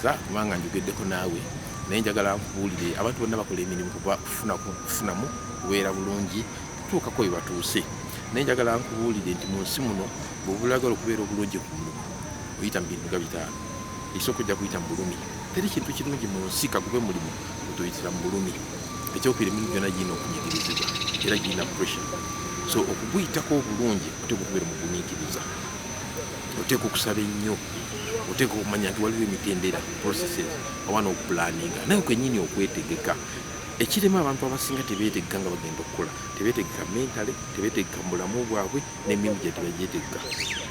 kubanga njogeddeko naawe naye njagala nkubuulire abantu bonna bakola emirimu kuba kufunamu kubeera bulungi kutuukako we batuuse naye njagala nkubuulire nti mu nsi muno bwobulagala okubeera obulungi ku muntu oyita mu bintu nga bitaano ekisooka ojja kuyita mu bulumi teri kintu kirungi mu nsi kagube mulimu otoyitira mu bulumi ekyokubira emirimu gyona girina okunyigirizibwa era girina pressure so okuguyitako obulungi oteeka okubeera mu gumiikiriza oteeka okusaba ennyo oteeka okumanya nti waliwo emitendera processes oba n'okupulaninga naye kwenyini okwetegeka ekirema abantu abasinga tebetegeka nga bagenda okukola tebetegeka mentale tebetegeka mubulamu bwabwe nemirimu gye tebagyetegeka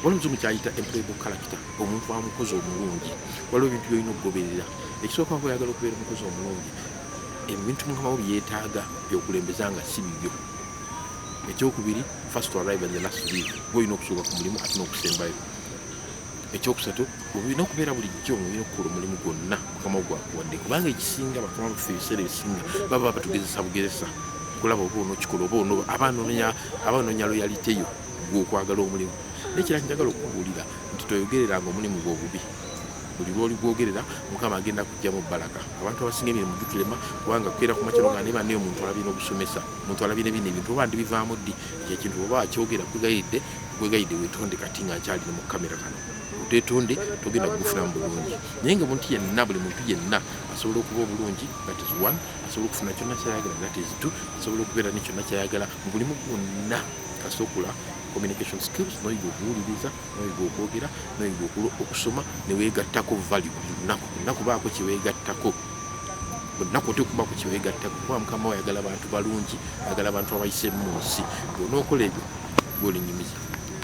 waliwo omuzimu kyayita employable character omuntu amukozi omulungi waliwo ebintu byolina okugoberera ekisooka nga oyagala okubeera omukozi omulungi ebintu mukamawo byetaaga byokulembeza nga si bibyo ekyokubiri first to arrive and the last to leave gwe olina okusooka ku mulimu ate n'okusembayo ekyokusatu olina okubeera bulijjo nga olina okukola omulimu gwonna mukama gwakuwadde kubanga ekisinga bakama baffe ebiseera ebisinga baba batugezesa bugezesa okulaba oba onokikola oba ono aba anoonya loyaliteyo gwokwagala omulimu naye kira kinjagala okukubuulira nti toyogereranga omulimu gwobubi buli lwoli gwogerera mukama agenda kujjamu balaka abantu abasinga emirimu gitulema kubanga kukeera kumakyalo nga nebanaye omuntu alabye n'obusomesa omuntu alabire bino ebintu oba ndibivaamu ddi ekyo ekintu oba akyogera kwegayidde kwegayidde wetonde kati nga nkyali ne mu kamera kano twetonde togenda kugufunamu bulungi naye nga omuntu yenna buli muntu yenna asobola okuba obulungi that is one asobola okufuna kyonna kyayagala that is two asobola okubeera ne kyonna kyayagala mu bulimu gwonna kasokula communication skills noyiga okuwuliriza noyiga okwogera noyiga okusoma newegattako valu lunaku lunaku baako kyewegattako bonna kote okuba ku kyewegatta kuba mukama wayagala abantu balungi ayagala abantu abayise mu nsi bwonaokola ebyo golinyumiza